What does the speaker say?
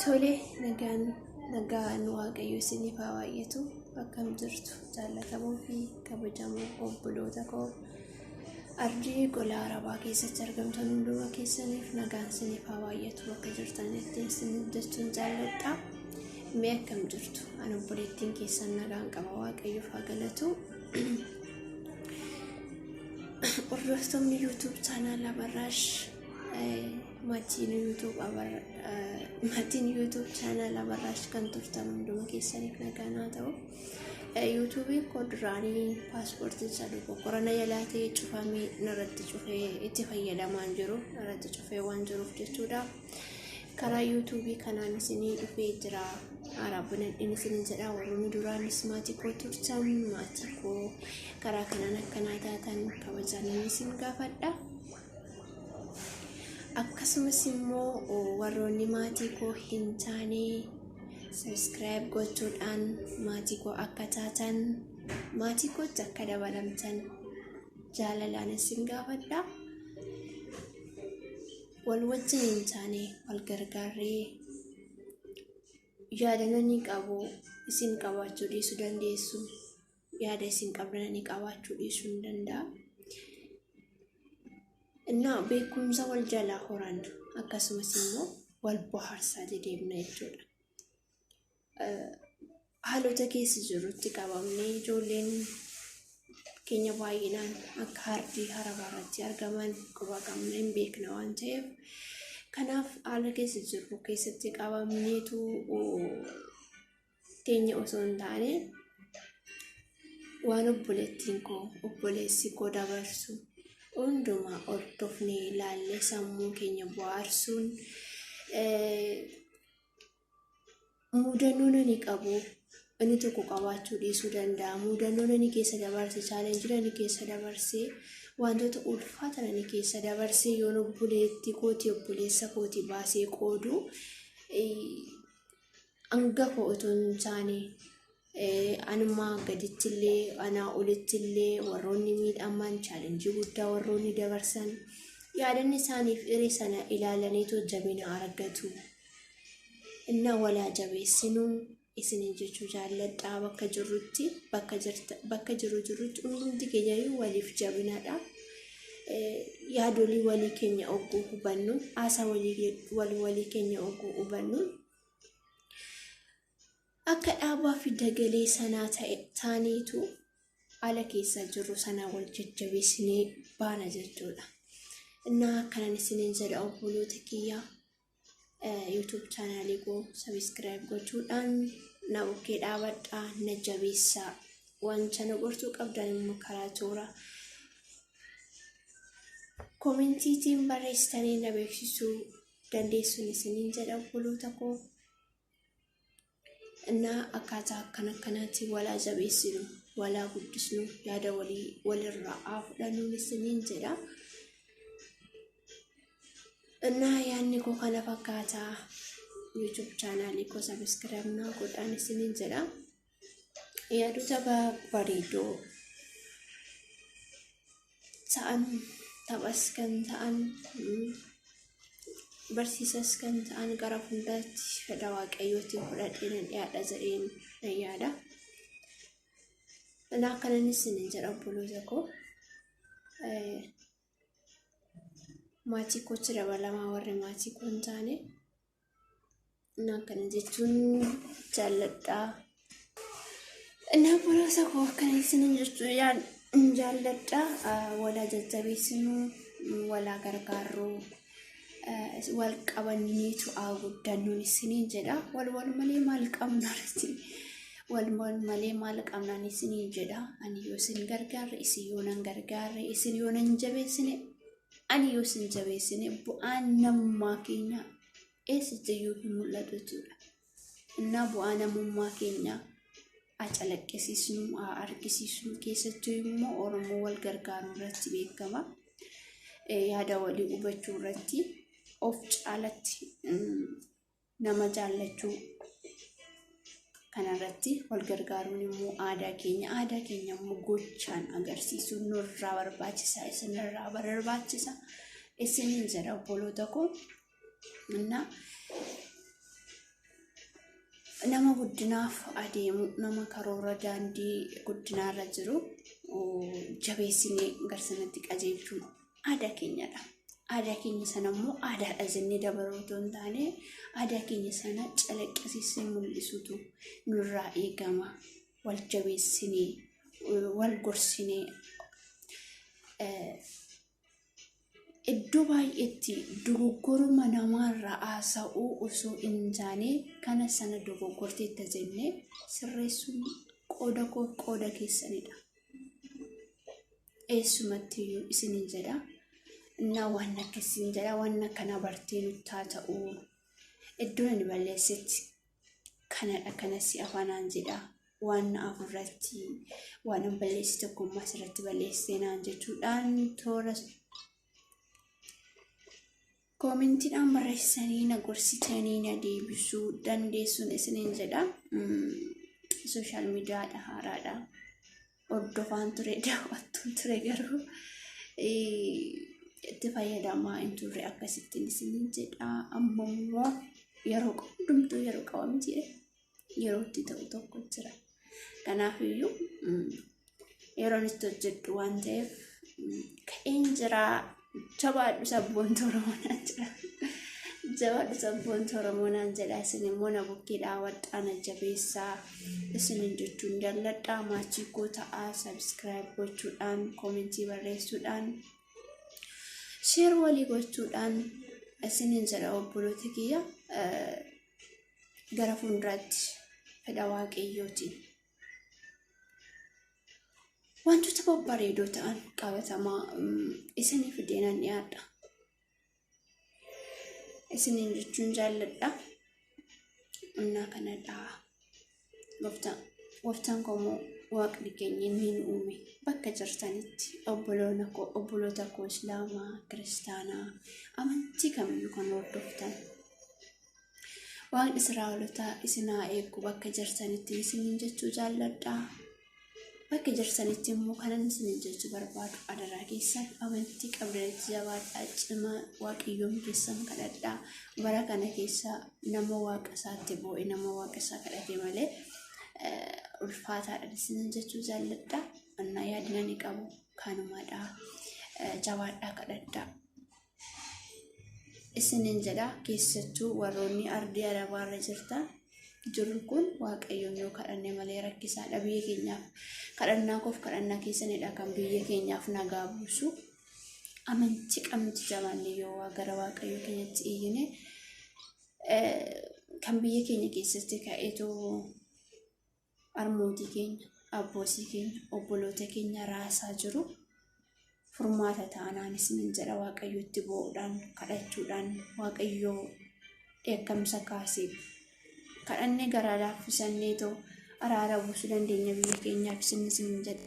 Tole nagaan nagaan waaqayyo isiniif haa baay'atu akkam jirtu jaallatamoo fi kabajamoo obboloota koo ardii gola arabaa keessatti argamtan hunduma keessaniif nagaan isiniif haa baay'atu bakka jirtanitti isiniif jechuun jaalladha mee akkam jirtu an obboleettiin keessan nagaan qaba waaqayyoof haa galatu hordoftoonni yuutuub chaanaala barraash Maatiin YouTube Abarra maatiin YouTube channel Abarraash kan turtan hunduma keessaniif nagaan haa ta'u. Yuutuubiin koo duraanii paaspoortiin isaa dogoggora na jalaa ta'e cufamee narratti cufee itti fayyadamaan jiru narratti cufee waan jiruuf jechuudha. Karaa yuutuubii kanaan isinii dhufee jira. Araabbinan inni isin jedha warroonni duraanis maatii koo turtan maatii koo karaa kanaan akkanaa taatan kabajaan inni isin gaafadha. akkasumas immoo warroonni maatii koo hin taane sabiskiraayib gochuudhaan maatii koo akka taatan maatii kootti akka dabalamtan jaalalaan isin gaafadha wal wajjin hin taane wal gargaarree yaadannoo ni qabu isin qabaachuu dhiisuu dandeessu. yaada isin qabdanii qabaachuu dhiisuu ni danda'a. Innaa beekumsa wal jalaa horan akkasumas immoo wal bohaarsaa dedeemna jechuudha. Haalota keessa jirrutti qabamnee ijoolleen keenya baay'inaan akka hardii harabaa irratti argaman quba qabna hin beekna waan ta'eef kanaaf haala keessa jirru keessatti qabamneetu keenya osoo hin taane waan obboleettiin koo obboleessi koo dabarsu hundumaa hordofnee ilaallee sammuu keenya bohaarsuun mudannoon ani qabu inni tokko qabaachuu dhiisuu danda'a mudannoon ani keessa dabarse chaalenjiin ani keessa dabarse wantoota ulfaatan ani keessa dabarse yoon obboleetti kooti obboleessa kooti baasee qoodu hanga koo utuu hin taane anummaa gadichillee anaa olittillee warroonni miidhaman chaalenjii guddaa warroonni dabarsan yaadanni isaaniif hiree sana ilaalaniitu jabina argatu. Inna walaa jabeessinu isiniin jechuu jaalladhaa bakka jirrutti bakka jirta bakka jiru jirrutti hundumti keenyayyuu waliif jabinadha. Yaadolii walii keenya ogguu hubannu haasaa walii walii keenya ogguu hubannu. Akka dhaabaa fi dagalee sanaa ta'e taaneetu ala keessa jirru sana wal jajjabeessinee baana jechuudha. Innaa akkanan isiniin jedha obboloota kiyyaa YouTube chaanaalii koo sabiskiraayib gochuudhaan na bukkee dhaabadhaa na jabeessaa wanta na gortuu qabdan immoo karaa toora koomentiitiin barreessitanii na beeksisuu dandeessuun isiniin jedha obboloota koo innaa akkaataa akkan akkanaatti walaa jabeessinu walaa guddisnu yaada walii walirraa haa fudhannuun isiniin jedha innaa yaadni koo kana fakkaataa youtube chaanaalii koo sabiskiraayib naa godhaan isiniin jedha yaadota bareedoo ta'an taphas kan ta'an barsiisas kan ta'an gara hundaatti fedha waaqayyootiin fudhadhee nan dhiyaadha jedheen nan yaada. Kanaaf kanan isin jedha obboloota koo maatii kootti dabalamaa warri maatii koo hin taane Innaan kana jechuun jaalladhaa. Innaan bolosa koo akkana isinin jechuu yaan jaalladhaa. Ah, Walaa jajjabeessinuu, walaa gargaarruu, ah, wal qabanneetu haa guddannuun isinin jedha. Wal wal malee maal qabna rati? Wal wal malee maal qabnaan isinin jedha. Ani yoo isin gargaarre, isin yoo nan gargaarre, isin yoo nan jabeessine, ani yoo sin jabeessine bu'aan namummaa keenya eessattiyyuu hin mul'atu jechuudha. Innaa bu'aa namummaa keenya haa calaqqisiisnu, haa argisiisnu keessattuu immoo Oromoo wal gargaaruu irratti beekama. Eh, Yaada walii hubachuu irratti of caalatti mm, nama jaallachuu kanarratti wal gargaaruun immoo aadaa keenya aadaa keenya immoo gochaan agarsiisuu nurraa barbaachisa isinirraa barbaachisa isiniin jedha obboloota koo na nama guddinaaf adeemu nama karoora daandii guddinaarra jiru jabeessinee garsanatti qajeelchuu aadaa keenyadha. Aadaa keenya sana immoo aadaadha jennee dabaruu otoo hin taane aadaa keenya sana calaqqisiisnee mul'isuutu nurraa eegama. Wal jabeessinee, wal gorsinee iddoo baay'eetti dogoggoruma namaarraa haasa'uu osoo hin taane kana sana dogoggorteetta jennee sirreessuun qooda koo qooda keessanidha. eessumattiyyuu isinin jedha na waan akka isin jedha waan akkana bartee nuttaa ta'uu iddoon ani balleessetti kanadha kanasi afaanaan jedha waan na afurratti waan an balleesse tokkummaa asirratti balleessee naan jechuudhaan toora Koomentiidhaan barreessanii na gorsitanii na deebisuu dandeessuun isiniin jedha. Sooshaal miidiyaadha haaraadha. Hordofaan ture daawwattuun ture garuu itti fayyadamaa hin turre akkasittiin isiniin jedha. Amma immoo yeroo hundumtuu yeroo qaba miti. yeroo itti ta'u tokko jira. Kanaaf iyyuu yeroon itti hojjedhu waan ta'eef ka'een jira jabaadhu sabboontu Oromoo naan jedha. Jabaadhu sabboontu Oromoo naan jedha isin immoo na bukkee dhaabadhaa na jabeessaa isinin jechuun jalladhaa maachii koo ta'aa sabiskiraayib gochuudhaan koomentii barreessuudhaan sheer walii gochuudhaan isinin jedha obboloota kiyya. gara fuulduraatti fedha waaqayyootiin wantoota babbareedoo ta'an qabatamaa isiniif fideenan dhiyaadha. Isiniin jechuun jaalladha. Onnaa kanadha. Gooftaan Gooftaan koo immoo waaqni keenya inni nu uume bakka jirtanitti obboloona koo obboloota koo islaamaa kiristaanaa amantii kamiyyuu kan hordoftan waaqni israa'olotaa isin haa eegu bakka jirtanitti isiniin jechuu jaalladhaa Bakki jirsanitti immoo kanan isinin jechu barbaadu adaraa keessan amantii qabdanitti jabaadhaa cimaa waaqayyoon keessan kadhadhaa bara kana keessa nama waaqa isaatti boo'e nama waaqa isaa kadhate malee ulfaataadhaan isinin jechuu jaalladhaa annaa yaadinani qabu kanumaadhaa jabaadhaa kadhadhaa. isinin jedha keessattuu warroonni ardii arabaa irra jirta jirru kun waaqayyoon yoo kadhanne malee rakkisaadha biyya keenyaaf kadhannaa koof kadhannaa keessanidha kan biyya keenyaaf nagaa buusu amantii qabnuti jabaanne yoo waa gara waaqayyo keenyatti iyyine kan biyya keenya keessatti ka'eetu armootii keenya abboosii keenya obboloota keenya raasaa jiru furmaata taanaan isinin jedha waaqayyotti boo'uudhaan kadhachuudhaan waaqayyoo dheekkamsa kaaseef kadhannee garaa laaffisannee too araara buusuu dandeenya biyya keenyaaf isin isinin jedha.